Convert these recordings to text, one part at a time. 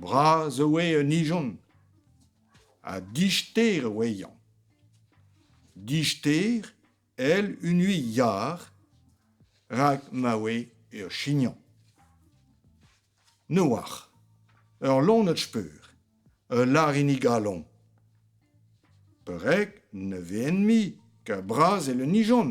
Bras e oe an ijon ha dister e oa iañ. Dister èl unui yar rak ma oe ur chignañ. Ne oar. Ur lonad speur, ul larinig galoñ. Perag ne vehen-mui ket bras èl un ijon ?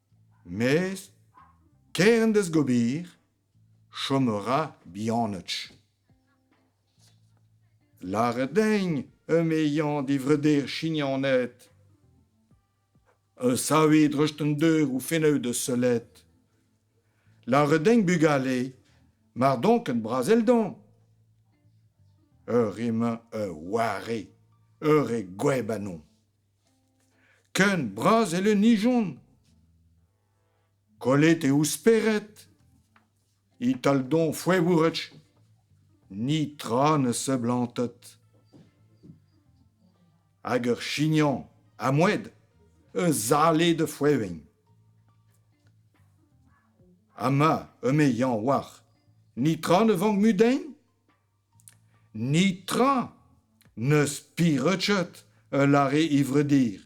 Mez, kerent eus gober, chom a ra bihanoc'h. Lâret din emezañ d'e vreur Chignaned savet dreist an deur o fennout da sellet. Lâret din bugale mar don ket brazelldon. Ur re-mañ ur warre, ur re gweb annon. Ken bras e lennijont. Kollet eo spered Ital-don foevourech netra ne seblantet. Hag ur chignañ amoed eus ale da foeveñ. Ama eme Yañ war, netra ne vank mudañ? Ni tra n'eus pireutchet ul lare ivredir.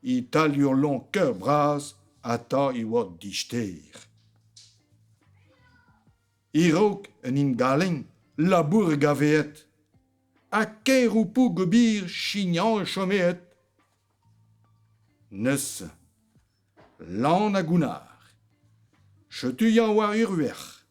Italiolon ker bras ata e oa dister. E-raok un indaleng labour gaveet ha kaeroù-poug ober chignal chomet. Neuze, lan ha gounnar. Setu yañ war ur verc'h.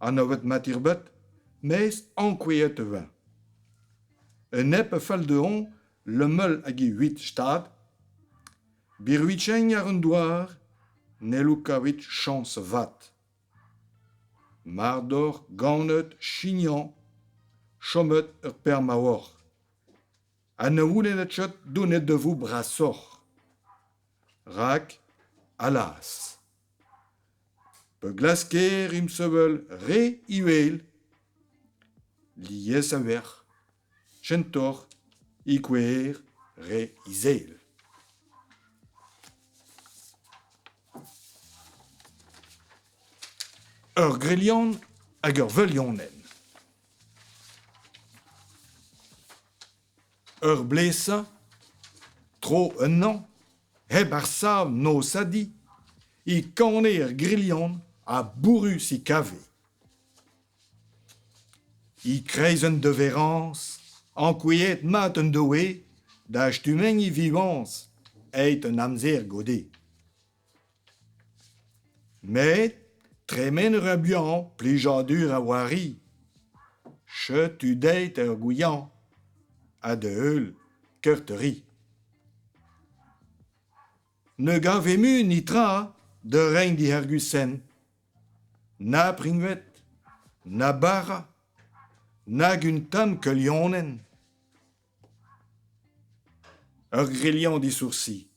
Anvet matirbet, mes ankouaet e voe. E nep a fell dezhañ lemel hag e huit stad, birvidigek ar an douar n'hello kavout chañs vat. Mardor ganet chignañ, chomet ur permaoc'h. Ha ne oulennet ket donet da vo brasoc'h. Rak, alas! Pa glasker ensevel re uhel, lies a-vec'h, kentoc'h e kouezher re izel. Ur grilion hag ur velionenn. Ur blesañ, tro ennañ, hep ar sav-nosadiñ, e kane er grilhan ha bourrus e kave. E-kreiz un deverrañs, ankouaet mat en doe da stumm e vivañs, aet an amzer goude. Met tremen a ra buan, plijadur a c'hoari. Setu deit ar gouiañ ha da-heul keurt-ri. Ne gavez mui netra da reiñ d'e arguzenn. Na priñved, na bara, nag un tamm keulianenn. Ur grilian disoursi.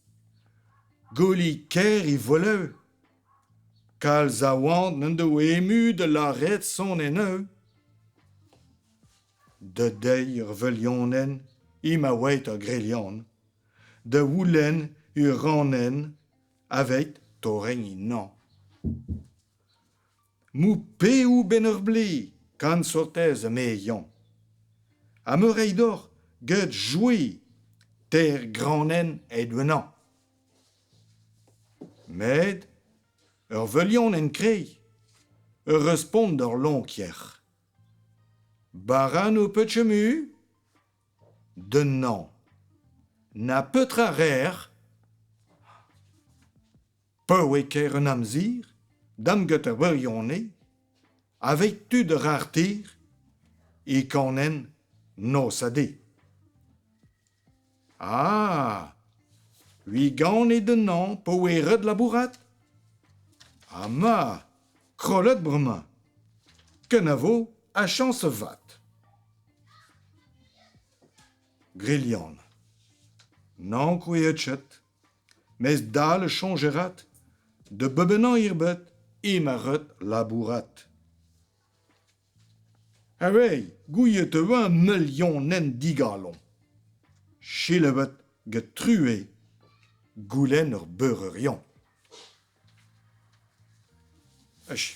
Gouelig ker e volev. Kalz a oant n'en doa emu da lâret son en-eu. Da deiz ur velianenn emañ a-waet ur grilian. Da oulenn ur ranenn aveit torrenn ennañ. Moupéoù 'benn ur blez, gant sotez eme Yann. Ha me reiñ deoc'h get jouiñ teir granenn aet-wenañ. Met ur velianenn kreiz, ur respont d'ur lonkjer. Bara n'ho peus chomu? Den nann. Na petra 'rer? Pa oe ker an amzer, damget ar wirionez, aveit tud a ra ar tir, e kanenn noz-ha-de. Ah! Ui ganit ennañ pa oe ret labourat? Ama, krollet bremañ. Kenavo ha chañs vat. Grilhan. N'ankoueet chet. Mes dal a soñj avat da bebennañ erbet eo ma ret labourat. Aveit, gouiet e vo meulionenn digalon. Selaouet get True, goulenn ur beureur-yañ. Achu.